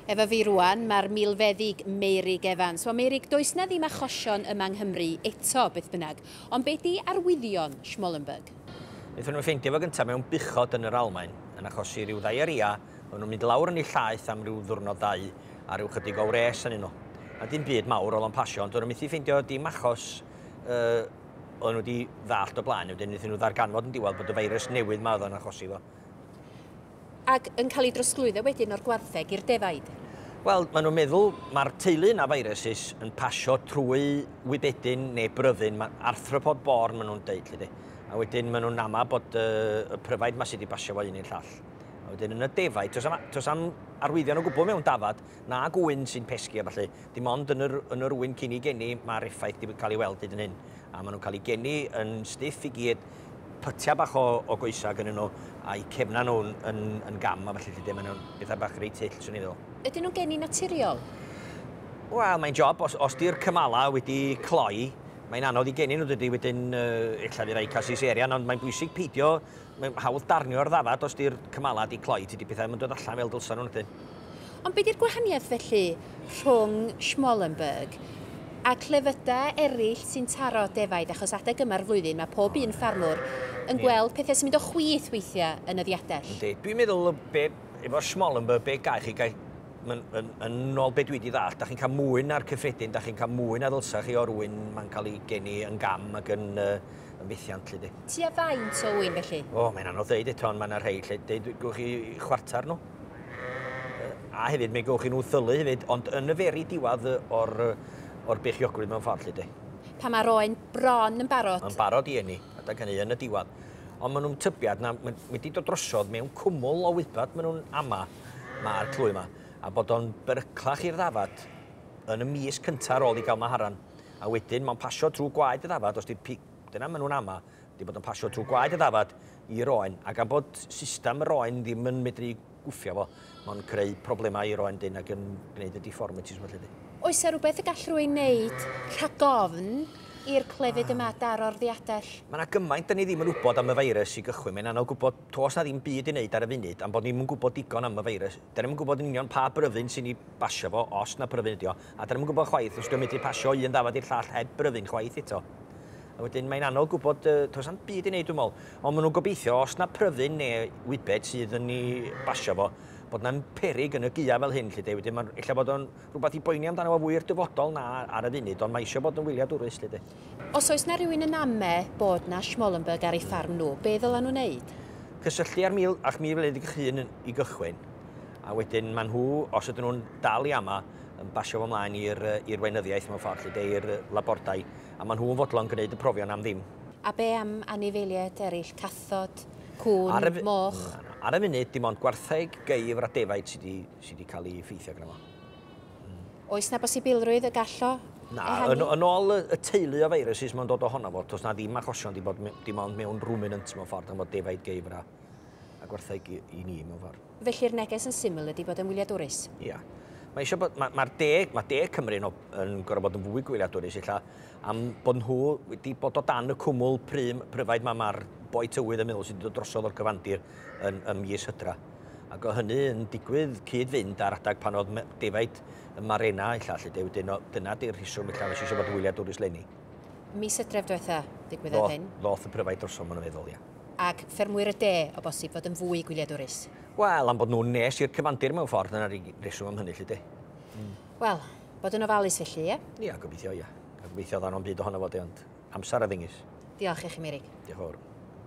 Efo fi rwan, mae'r milfeddyg Meurig Evans. Wel Meurig, does 'na ddim achosion yma yng Nghymru eto, beth bynnag. Ond be 'di arwyddion Schmollenberg? Wnaethon nhw ffeindio fo gynta mewn buchod yn yr Almaen, yn achosi rhyw ddaearia, oedden nhw'n mynd lawr yn eu llaeth am ryw ddiwrnod ddau, a ryw chydig o wres arnyn nhw. A dim byd mawr o'dd o'n pasio, ond do'n nhw methu ffeindio dim achos yy oedden nhw wedi ddallt o blaen, wedyn wnaethon nhw ddarganfod yn diwedd bod y feirws newydd ma oedd o'n achosi fo. Ac yn cael ei drosglwyddo wedyn o'r gwartheg i'r defaid? Wel, maen nhw'n meddwl mae'r teulu yna viruses yn pasio trwy wybedyn neu bryddyn, mae arthropod born maen nhw'n deud, lli di. A wedyn maen nhw'n ama bod y, y pryfaid ma sydd wedi basio fo un i'r llall. A wedyn yn y defaid, tos am, tos am arwyddion o gwbl mewn dafad, na gŵyn sy'n pesgi a ballu. Dim ond yn yr, yn yr ŵyn cyn i geni mae'r effaith wedi cael ei weld hyd yn hyn. A maen nhw'n cael ei geni yn stiff i gyd, pytiau bach o, o goesau gyda nhw, a'i cefna nhw'n yn, yn gam a falle lle maen nhw'n bethau bach reit hyll, swn i'n ddol. Ydyn nhw'n geni naturiol? Wel, mae'n job, os, os di'r cymalau wedi cloi, mae'n anodd i geni nhw dydy wedyn uh, illa di rai cael Caesarian, ond mae'n bwysig peidio Mae'n hawdd darnio'r ddafad os di'r cymalau di cloi, tydi pethau ddim yn dod allan fel dylsa nhw na dyn. Ond be di'r gwahaniaeth felly rhwng Schmallenberg a clefydau eraill sy'n taro defaid achos adeg yma'r flwyddyn mae pob un ffarmwr yn gweld pethau sy'n mynd o chwith weithiau yn y ddiadell. Yndi, dwi'n meddwl be, efo Schmallenberg be gael chi gael, yn, yn, yn ôl be dwi di ddall, da chi'n cael mwy na'r cyffredin, da chi'n cael mwy na ddylsa chi o'r ŵyn mae'n cael ei geni yn gam ac yn uh, yn fethiant, lle di. Ti a faint o ŵyn, felly? O, mae'n anodd dweud eto, ond mae yna rhai lle deud gwch chi chwarter nhw. A hefyd, mae gwch chi nhw thylu hefyd, ond yn y feri diwad o'r, or beichiogrwydd mewn ffordd, lle di. Pa mae'r oen bron yn barod? Yn barod i enni, adag hynny, yn y diwad. Ond maen nhw'n tybiad, na, maen, wedi dod drosodd mewn cwmwl o wybod maen nhw'n ama, mae'r clwy yma, a bod o'n beryclach i'r ddafad yn y mis cyntaf ar ôl i gael maharan. a wedyn mae'n pasio trwy gwaed y ddafad, os di'r pig, dyna maen nhw'n ama, di bod yn pasio trwy gwaed y ddafad i'r oen, a gan bod system yr oen ddim yn medru gwffio fo, mae'n creu problemau i'r oen dyn ac yn gwneud y deformities felly di. Oes yna rhywbeth y gall rhywun wneud rhag ofn i'r clefyd yma daro'r ddiadell? Mae yna gymaint da ni ddim yn wybod am y feirws i gychwyn, mae'n anodd gwybod, toes na ddim byd i wneud ar y funud am bod ni'm yn gwybod digon am y feirws. Da ni'm yn gwybod yn union pa bryfyn sy'n ei basio fo, os na pryfyn ydi o, A dan ni'm yn gwybod chwaith os dio'n medru pasio un ddafad i'r llall heb bryfyn chwaith eto. A wedyn mae'n anodd gwybod, yy, does na'm byd i wneud dwi'n meddwl. Ond maen nhw'n gobeithio, os na pryfyn neu wybed sydd yn ei basio fo, bod na'n peryg yn y gaeaf fel hyn, lly de. Wedyn mae'n ella bod o'n rhywbeth i boeni amdano fo fwy i'r dyfodol na ar y funud, ond mae eisiau bod yn wyliadwrus, lly de. Os oes na rywun yn ame bod na Schmallenberg ar ei ffarm nhw, be ddylen nhw wneud? Cysylltu â'r mil, â'ch mil wledig eich hun i gychwyn, a wedyn maen nhw, os ydyn nhw'n dal i ama, yn basio fo mlaen i'r weinyddiaeth mewn ffordd, lle i'r labordai, a maen nhw'n fodlon gwneud y profion am ddim. A be am anifeiliaid eraill, cathod, cŵn, moch? Ar y funud, dim ond gwartheg, geifr a defaid sydd wedi cael ei effeithio gyda fo. Oes na bosibilrwydd y gall o ehangu? Na, yn ôl y teulu o viruses mae'n dod ohono fo, does na ddim achosion wedi bod dim ond mewn ruminants mewn ffordd, gan fod defaid, geifr a gwartheg i ni mewn ffordd. Felly'r neges yn syml ydi bod e'n wyliadwrus. Ia. Mae eisiau bod, mae'r ma de, mae de Cymru yn, yn gorfod bod yn fwy gwyliadwrus illa am bod nhw wedi bod o dan y cwmwl prym, pryfaid mae mae'r boi tywydd yn meddwl sydd wedi dod drosodd o'r cyfandir yn, ym mis hydra. Ac o hynny yn digwydd cyd-fynd ar adag pan oedd defaid y marena illa, lle de, wedyn dyna di'r rhiswm illa nes eisiau bod yn wyliadwrus lenni. Mis hydref diwetha, digwyddodd hyn. Ddoth y pryfaid drosodd, maen nhw'n meddwl, ia. ac ffermwyr y de, o bosib, fod yn fwy gwyliadwrus. Wel, am bod nhw'n nes i'r cyfandir mewn ffordd, dyna'r unig reswm am hynny, lly de. Mm. Wel, bod yn ofalus felly, ie? Ia, gobeithio, ia. Gobeithio ddawn o'n byd ohono fo, de, ond amser a ddengys. Diolch i chi, Mirig. Diolch fawr.